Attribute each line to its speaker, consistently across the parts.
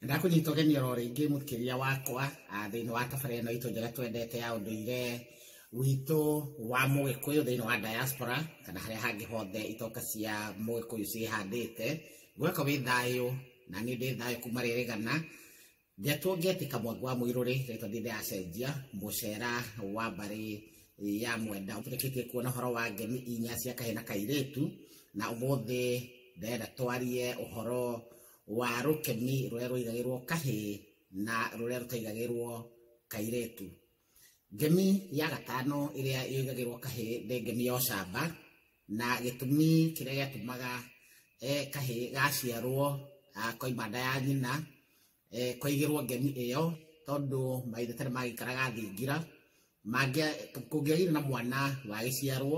Speaker 1: Ndakũnyita ũgeni oro rĩngĩ mũkĩria wakwa thĩinĩ wa tabara ĩno itũ njega twendete ya ũndũire witũ wa mũgĩkũyũ thĩinĩ wa diaspora kana harĩa hangĩ hothe itoka cia mũgĩkũyũ ciĩhandĩte gweka wĩ thayũ na niĩ ndĩ thayũ kuma rĩrĩgana njetwo ngĩetĩka mwangu wa mũirũrĩ rĩtwa ndĩ ndĩracenjia mũcera wa mbarĩ ya mwenda ũtũrĩkĩtie kuona ũhoro wa ngemi inya cia kahĩ na kairĩtu na ũmũthĩ ndĩrenda twarie ũhoro wa rũkeni rũrĩa rũigagĩrwo kahĩ na rũrĩa rũtaigagĩrwo kairetu ngemi ya gatano ĩrĩa ĩigagĩrwo kahĩ nĩ ngemi ya ũcamba na gĩtũmi kĩrĩa gĩatũmaga eh, kahĩ gaciarwo ah, koima nda ya nyina eh, kwaigĩrwo ngemi ĩyo tondũ maithe tene magĩikaraga thingira mangĩa- kũngĩagĩire na mwana wagĩciarwo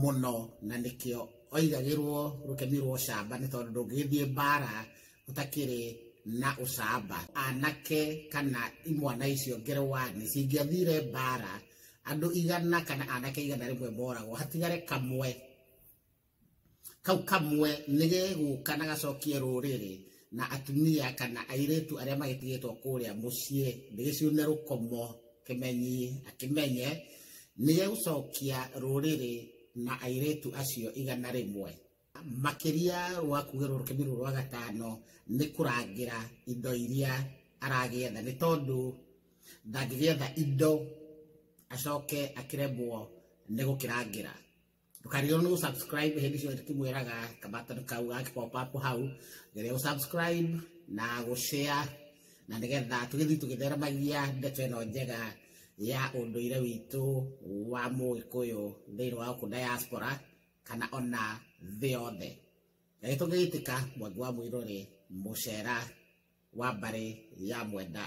Speaker 1: mũno na nĩkĩo oigagĩrwo rũkemi rwa ũcamba nĩ tondũ ndũngĩgĩthiĩ mbara ũtakĩrĩ na ũcamba anake kana imwana icio ngerewa nĩ cingĩathire mbara andũ igana kana anake igana rĩmwe moragwo hatigare kamwe kau kamwe nĩ gĩgũka na gacokie rũrĩrĩ na atumia kana airĩtu arĩa magĩtigĩtwo kũrĩa mũciĩ nĩ gĩciune rũkomo kĩmenyi akĩmenye nĩ gĩgũcokia rũrĩrĩ na airĩtu acio igana rĩmwe makĩria rwa kugĩrwo rũkĩmi rũu rwa gatano nĩ kũrangĩra indo iria aragĩetha nĩ tondũ ndangĩgĩetha indo acoke akĩremwo nĩ gũkĩrangĩra ndũkarigwo nĩ gũsubscribe hĩndĩ ciothe tũkĩmwĩraga kabatoni kau gagakĩpopapu hau geria gũsubscribe na gũshare na nĩgetha tũgĩthiĩ tũgĩtheremagia ndeto ĩno njega ya ũndũire witũ wa mũgĩkũyũ thĩinĩ wa gũkũ diaspora kana ona thĩ yothe na nĩ tũngĩgĩtĩka mwangi wa mũirũ rĩ mũcera wa mbarĩ ya mwenda